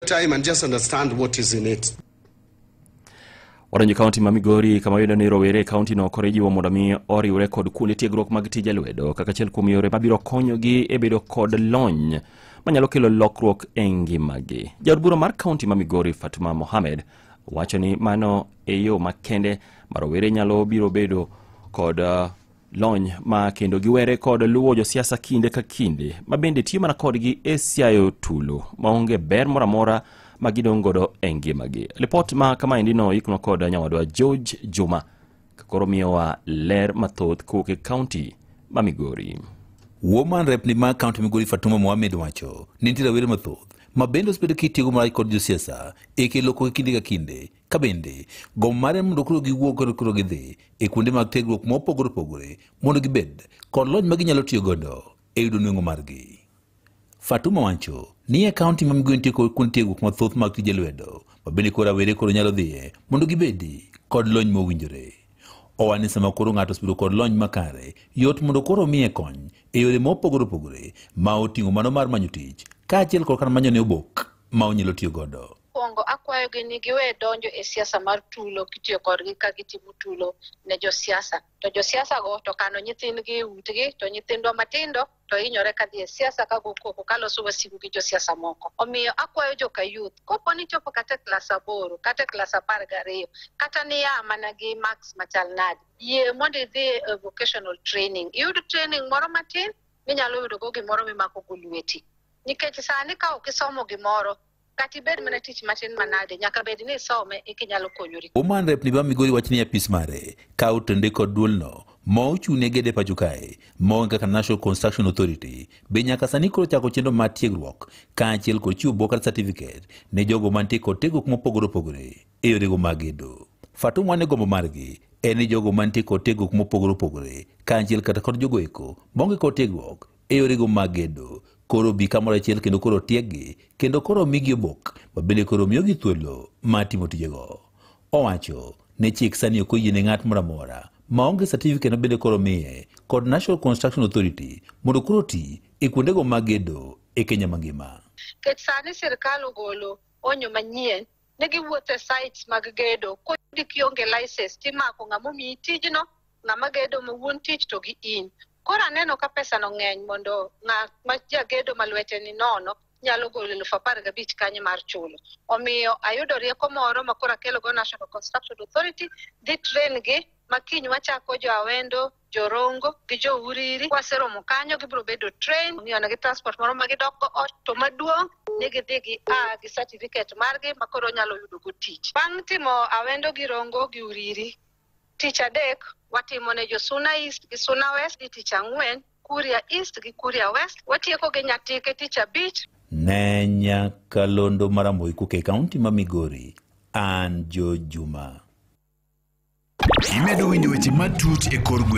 time and just understand what is in it. Waranjo kaunti ma Migori kama yudo ni rowere e kauntino koro ijiwo mondo mi oriwre kod kuonde tiegruok mag tije lwedo kaka achiel kuom yore mabiro konyogi e bedo kod lony manyalo kelo lokruok e ngimagi. Jaod bura mar kaunti ma Migori Fatuma Mohamed wacho ni mano e yo makende ma rowere nyalo biro bedo kod uh, lony ma kendo giwere kod luwo josiasa kinde ka kinde ma bende tiyo mana kodgi e siayo tulo maonge ber moro amora ma gidong' godo e ngimagi lipot ma kamaendi no ikno kod nyawadwa george juma kakoro miyowa ler mathoth kowuok e kaunti ma migori Woman rep ni ma kaunti Migori Fatuma Mohamed wacho ni nitie rawere mathoth ma bende osebedo kitiyogo marach kod josiasa e kelo koko kinde ka kinde Ka bende, gombo mare mondo koro giwuog kod koro gidhi e kuonde mag tiegruok mopogore opogore mondo gibed kod lony ma ginyalo tiyo godo e yudo nweng'o margi. Fatuma Wancho ni e kaunti ma Migwen tieko kuonde tiegruok mathoth mag tije lwedo ma bende koro rawere koro nyalo dhiye mondo gibedi kod lony mowinjore. Owacho ni sama koro ng'ato osebedo kod lony makare, yot mondo koro omiye kony e yore mopogore opogore ma oting'o mano mar manyo tich kaachiel kod kar manyone obok ma onyalo tiyo godo. Mokwongo akwayogi ni giwe donjo e siasa mar tulo kitiyo kodgi ka gitimo tulo ne josiasa. To josiasago to kano nyithindgi e utgi to nyithindwa matindo to hinyore ka dhi e siasa ka gokoko ka loso wasigu gi josiasa moko. Omiyo akwayo joka youth kopo ni chopo kata e klas aboro kata e klas apar gariyo kata niya mana gi marks machal nade, yie mondo idhi e vocational training iyud training moro matin minyalo yudogo gimoro mimakogo lweti. Nikech sani ka ok isomo gimoro kata ibed mana tich matin manade nyaka bed ni isome eka inyalo konyori Woman Rep ni ba Migori wacho ni apis mare kawo tende kod duolno ma ochung'ne gede pacho kae ma onge kaka National Construction Authority be nyaka sani koro chako chenro mar tiegruok kaachiel kod chiwo bokat certificate ne jogo mantie kod tiegruok mopogore opogore e yorego mag gedo. Fatuma ne gombo margi en ni jogo mantie kod tiegruok mopogore opogore kaachiel kata kod jogo eko maonge kod tiegruok e yorego mag gedo koro bi kamoro achiel kendo koro tieggi kendo koro migi obok ma bende koro miyogi thuolo mar timo tijego owacho ni chik sani ok oyie ne ng'at moro amora ma onge certificate ma bende koro miye kod national construction authority mondo koro ti e kuondego mag gedo e kenya mangima Nikech sani sirkal ogolo onyo manyien ne giwuotho e sites mag gedo kodi kionge license timako ng'ama omiyi tijno ng'ama gedo ma wuon tich to gi in Koro aneno ka pesano ng'eny mondo ng'at ma jagedo ma lwete ni nono nyalo golo eluf apar gabich kanye mar chulo. Omiyo ayudo rieko moro ma koro akelogo National Construction Authority dhi train gi ma kiny wachako jo Awendo, jo Rongo gi jo Uriri. Kwaseromo kanyo gibiro bedo train, omiyo negi transport moro ma gidokgo ot to maduong' ni gidhi gi a gi certificate margi ma koro onyalo yudogo tich. Bang' timo Awendo gi Rongo gi Uriri, Tich adek watimo ne jo Suna East gi Suna West gi tich ang'wen Kuria East gi Kuria West. Watieko gi Nyatike tich abich. Ne nyaka londo maramoi kuke kaunti ma Migori. An Jo Juma. Imedo winjo weche matut e kor gweng'.